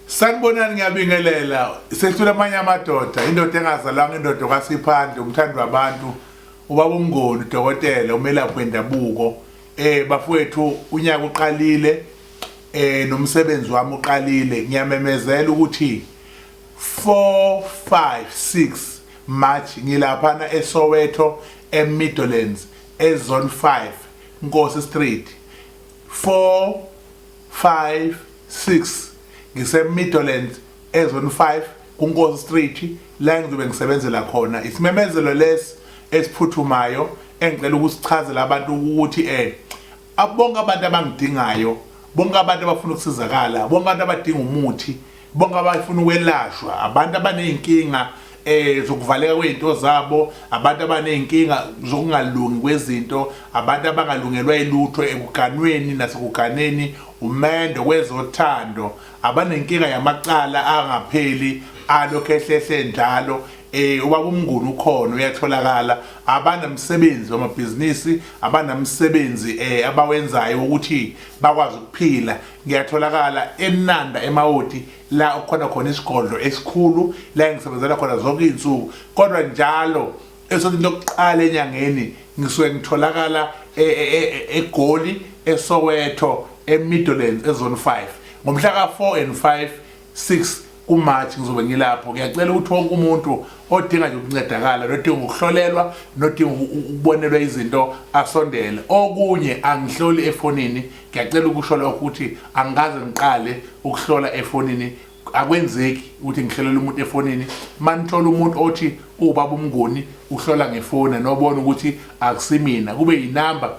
Sanibonani ngiyabingelela sesithola amanye amadoda indoda engazalwanga indoda okwasiphandle umthandi wabantu ubaba umngoni udokotela umelaphi wendabuko eh bafowethu unyaka uqalile eh nomsebenzi wami uqalile ngiyamemezela ukuthi 4 5 6 March ngilaphana eSoweto eMidlands ezone 5 Nkosi Street 4 5 6 ngise Midlands ezone 5 kuNkosi Street la ngizobe ngisebenzela khona isimemezelo lesi esiphuthumayo engicela ukusichazela abantu ukuthi eh abonke abantu abangidingayo bonke abantu abafuna ukusizakala bonke abantu abadinga umuthi bonke abafuna ukwelashwa abantu abaney'nkinga eh zokuvaleka kwezinto zabo abantu abanezinkinga zokungalungi kwezinto abantu abangalungelwa ilutho ekuganweni nasekuganeni umendo kwezothando abanenkinga yamacala angapheli alokhu ehlehle njalo eh ubaba umnguni ukhona uyatholakala abanamsebenzi wamabhizinisi abanamsebenzi eh abawenzayo ukuthi bakwazi ukuphila Ngiyatholakala eNanda eMawoti la okukhona khona isigodlo esikhulu la engisebenzela khona zonke izinsuku kodwa njalo esontweni lokuqala enyangeni ngisuke ngitholakala e, e, e, eGoli eSoweto eMidlands ezone 5 ngomhla ka4 and 5 6 kuMarch ngizobe ngilapho ngiyacela ukuthi wonke umuntu odinga nje ukuncedakala nodinga ukuhlolelwa nodinga ukubonelwa izinto asondele okunye angihloli efonini ngiyacela ukusho lokho ukuthi angikaze ngiqale ukuhlola efonini akwenzeki ukuthi ngihlelela umuntu efonini manithola umuntu othi ubaba umngoni uhlola ngefoni nobona ukuthi akusimina kube yinamba